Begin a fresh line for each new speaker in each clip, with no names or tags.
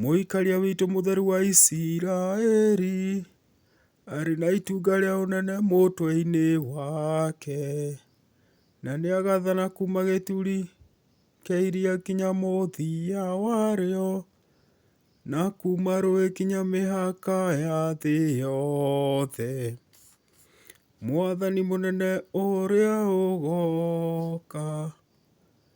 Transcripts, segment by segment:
Mũikaria witũ mũtheru wa Isiraeli, arĩ na itunga rĩa ũnene mũtwe-inĩ wake, na nĩ agathana kuuma gĩturi kĩa iria nginya mũthia warĩo, na kuuma rũĩ nginya mĩhaka ya thĩ yothe. Mwathani mũnene ũrĩa ũgooka.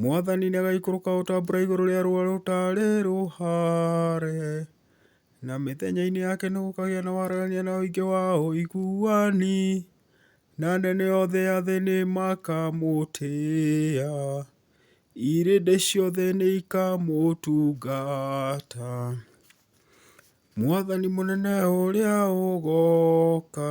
Mwathani nĩagaikũrũka o ta mbura igũrũ rĩa rũũa rũtarĩ rũhare, na mĩthenya-inĩ yake nĩgũkagĩa na waragania na ũingĩ wa ũiguani, na anene othe a thĩ nĩmakamũtĩĩa, irĩndĩ ciothe nĩikamũtungata. Mwathani mũnene ũrĩa ũgooka.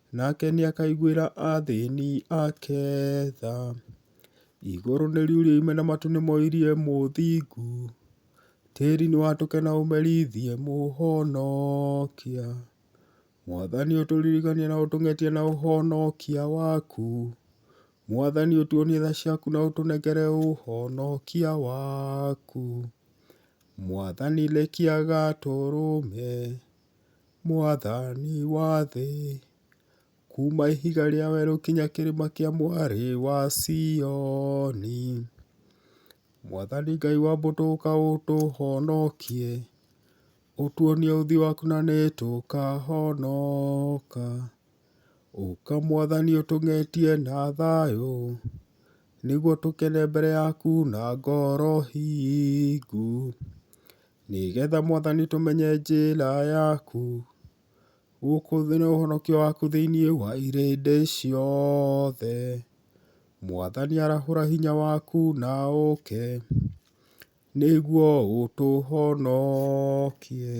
Nake nĩ akaiguĩra athĩni ake tha. Igũrũ nĩ riurime na matu nĩ moirie mũthingu, tĩri nĩ watũke na ũmerithiĩ mũhonokia. Mwathani ũtũririkanie na ũtũng'etie na ũhonokia waku, Mwathani ũtuonie tha ciaku na ũtũnengere ũhonokia waku. Mwathani rekia gatũrũme. mwathani wa thĩ, kuuma ihiga rĩa werũ nginya kĩrĩma kĩa mwarĩ wa Sioni. Mwathani Ngai wa mbũtũ ũka ũtũhonokie, ũtuonie ũthiũ waku na nĩtũkahonoka. Ũka mwathani ũtũng'etie na thayũ, nĩguo tũkene mbere yaku na ngoro hingu. Nĩgetha Mwathani tũmenye njĩra yaku, gũkũ thĩ na ũhonokio waku thĩinĩ wa irĩndĩ ciothe. Mwathani arahũra hinya waku na ũũke, nĩguo ũtũhonokie.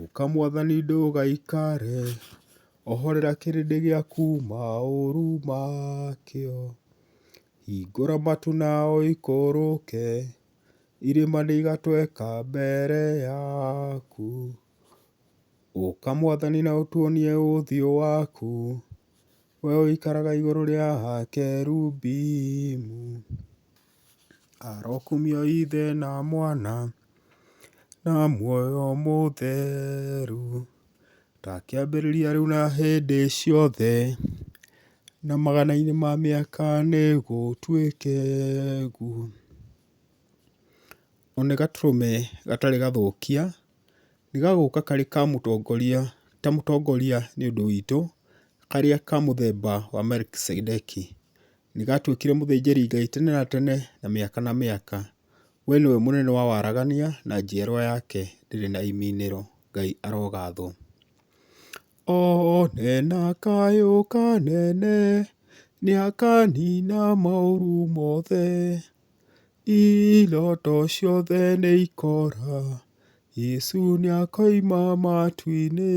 Ũka Mwathani ndũgaikare, ohorera kĩrĩndĩ gĩaku maũru makĩo. Hingũra matu na ũikũrũke. Irĩma nĩ igatweka mbere yaku, ũka mwathani na ũtuonie ũthiũ waku, we ũikaraga igũrũ rĩa kerubimu. Arokumio Ithe na Mwana na muoyo mũtheru. Ndakĩambĩrĩria rĩu na hĩndĩ ciothe, na magana-inĩ ma mĩaka nĩ gũtuĩke guo. O nĩ gatũrũme gatarĩ gathũkia, nĩ gagũka karĩ ka mũtongoria, ta mũtongoria nĩ ũndũ witũ, karĩa ka mũthemba wa Melkizedeki. Nĩgatuĩkire mũthĩnjĩri Ngai tene na tene na mĩaka na mĩaka. We nĩwe mũnene wa waragania na njiarwa yake ndĩrĩ na iminĩro. Ngai arogathwo. One na kayũ kanene nĩakanina maũru mothe, iroto ciothe nĩikora, Yesu nĩakoima matu-inĩ.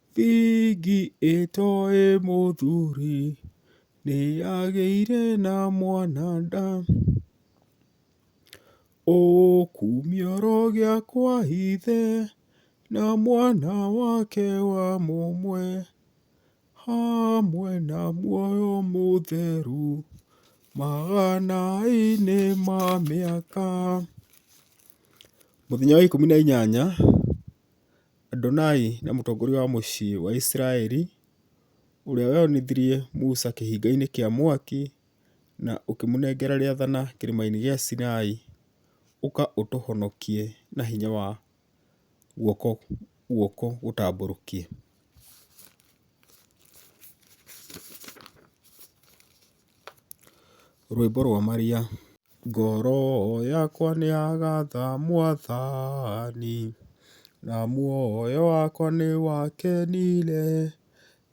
Bigi ĩtoĩ mũthuri nĩyagĩire na mwana nda, ũkumio rũgĩa kwa ithe na mwana wake wa mũmwe, hamwe na muoyo mũtheru magana-inĩ ma mĩaka. Mũthenya wa ikũmi na inyanya. Adonai nĩ mũtongoria wa mũciĩ wa Isiraeli, ũrĩa weyoneire Musa kĩhinga-inĩ kĩa mwaki, na ũkĩmũnengera rĩathana kĩrĩma-inĩ gĩa Sinai, ũka ũtũhonokie na hinya wa guoko guoko gũtambũrũkie. Rwĩmbo rwa Maria. Ngoro yakwa nĩ ya gatha mwathani, na muoyo wakwa nĩ wakenire,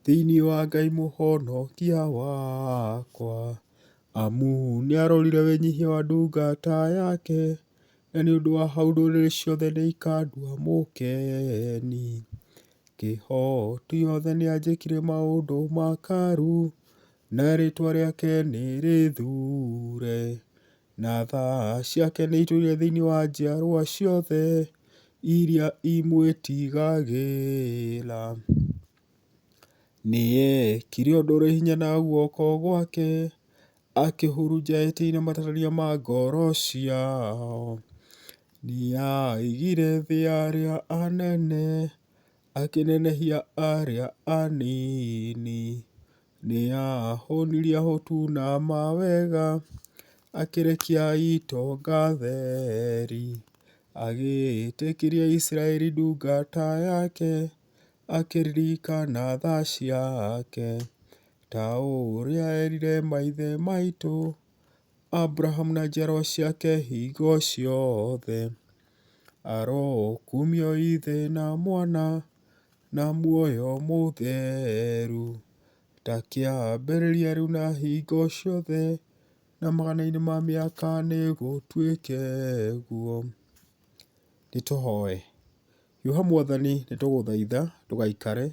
thĩinĩ wa Ngai mũhonokia wakwa, amu nĩ arorire wĩnyihia wa ndungata yake, na nĩ ũndũ wa hau ndũrĩrĩ ciothe nĩ ikandua mũkeni. Kĩhooto gĩothe nĩ anjĩkire maũndũ makaru, Na rĩĩtwa rĩake nĩ rĩthuure. Na tha ciake nĩ itũire thĩinĩ wa njiarwa ciothe iria imwĩtigagĩra. Nĩ eekire ũndũ ũrĩ hinya na guoko gwake, akĩhurunja etĩ-inĩ matarania ma ngoro ciao. Nĩ aaigire thĩ ya arĩa anene, Akĩnenehia arĩa anini. Nĩ aahũũnirie ahũtu na mawega. Akĩrekia itonga theri. Agĩĩtĩkĩria Isiraeli ndungata yake. Akĩririkana tha ciake. Ta ũrĩa eerire maithe maitũ. Abrahamu na njiarwa ciake hingo ciothe. Arokumio Ithe na Mwana na muoyo mũtheru, ta kĩambĩrĩria rĩu na hingo ciothe, na magana-inĩ ma mĩaka nĩgũtuĩke ũguo. Nĩ tũhoe. Hiũha Mwathani nĩ tũgũthaitha ndũgaikare,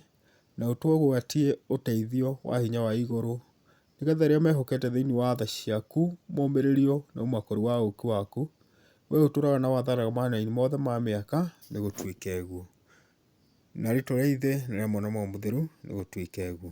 na ũtũgwatie ũteithio wa hinya wa igũrũ, nĩgetha arĩa mehokete thĩinĩ wa tha ciaku momĩrĩrio nĩ ũmakũrũ wa ũũkĩ waku, we ũtũraga na wathanaga mahinda-inĩ mothe ma mĩaka, nĩ gũtuĩke ũguo. Na rĩtwa rĩa Ithe, na rĩa Mwana, na Roho Mũtheru, nĩ gũtuĩke ũguo.